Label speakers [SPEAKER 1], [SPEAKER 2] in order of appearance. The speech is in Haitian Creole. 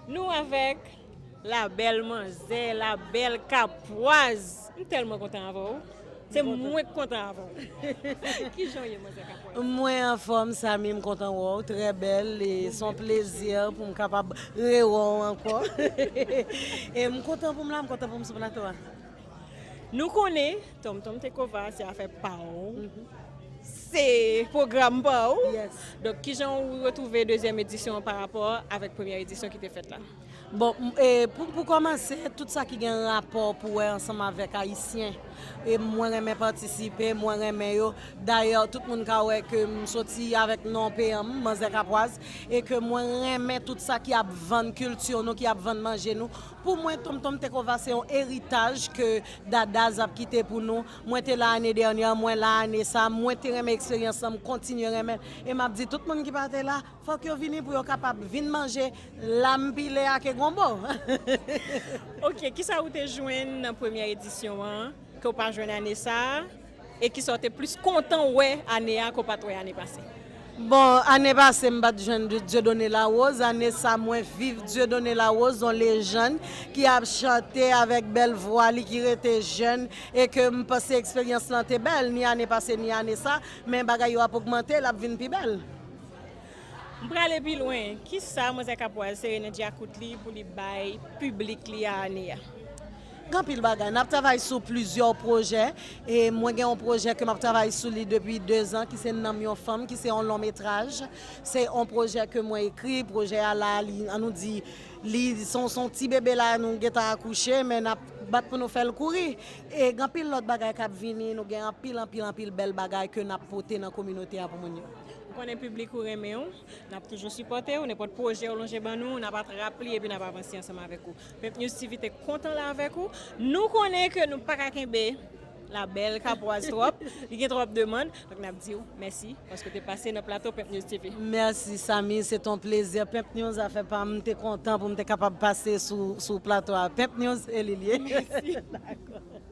[SPEAKER 1] Nou avèk la bèl manzè, la bèl kapwaz. M tèlman kontan avè w. Se mwen k kontan avè w. Kijan w ye manzè kapwaz? Mwen anfòm
[SPEAKER 2] Samy, m kontan wè w, trè bèl e s on plezi pou m kapab rewè w ankò. E m kontan pou m la, m kontan pou m sou plato a.
[SPEAKER 1] Nou konnen. Tom Tom Tekova se afè pa ou, se pwogram pa ou. Donk ki
[SPEAKER 2] jan ou
[SPEAKER 1] retwouve dezyèm edisyon an parapò avèk premyè edisyon ki te fèt la? Bon,
[SPEAKER 2] pou kòmanse, tout sa ki gen rapò pou wè ansanm avèk Ayisyen, mwen renmen patisipe, mwen renmen yo. Dayè, tout moun ka wè ke m soti avèk non peyan m, Manzè Kapwaz, e ke mwen renmen tout sa ki ap vann kilti nou, ki ap vann manje nou. Pou mwen Tonmtonm Tekova se yon eritaj ke Dadaz ap kite pou nou. Mwen te la ane dènyè, mwen la ane sa, mwen te renmen eksperyans lan, m kontinye renmen l. E m ap di tout moun ki pa te la, fòk yo vini pou yo kapab vin manje lam pile ake gonbo.
[SPEAKER 1] Ok, kisa ou te jwenn nan premyè edisyon an ke w pa jwenn ane sa a? E kisa w te plis kontan wè ane a ke w pa t wè ane pase? Bon, ane
[SPEAKER 2] pase m pa t jwenn Dieudonné Larose. Ane sa mwen viv Dieudonné Larose, yon lejann ki ap chante avèk bèl vwa li, ki rete jèn e ke m panse eksperyans lan te bèl ni ane pase ni ane sa. Men bagay yo ap ogmante, l ap vin pi bèl.
[SPEAKER 1] M prale pi lwen. Kisa Manzè Kapwal sere nan dyakout li pou li bay piblik li a ane a? Gen anpil
[SPEAKER 2] bagay. N ap travay sou plizyè pwojè. E mwen gen yon pwojè ke m ap travay sou li depi dezan ki se Nanm yon fanm ki se yon lon metraj. Se yon pwojè ke mwen ekri. Pwojè a la, li an nou di li se yon ti bebe la a nou gentan akouche men n ap bat pou nou fè l kouri. E gen anpil lòt bagay k ap vini. Nou gen anpil, anpil, anpil bèl bagay ke n ap pote nan kominote a pou moun yo. Ou konnen piblik
[SPEAKER 1] ou renmen ou. N ap toujou sipòte ou. Nenpòt pwojè ou lonje ban nou, n ap atrap li epi n ap avanse ansanm avèk ou. Pep News TV te kontan la avek ou. Nou konnen ke nou paka kenbe la bel Capoise trop. Li gen trop demand. Donk nap diw mèsi paske ou te pase nan plato Pep News TV. Mèsi Samy,
[SPEAKER 2] se ton plezi. Pep News afè pam. M te kontan pou m te kapab pase sou plato a. Pep News e li liye. Mèsi.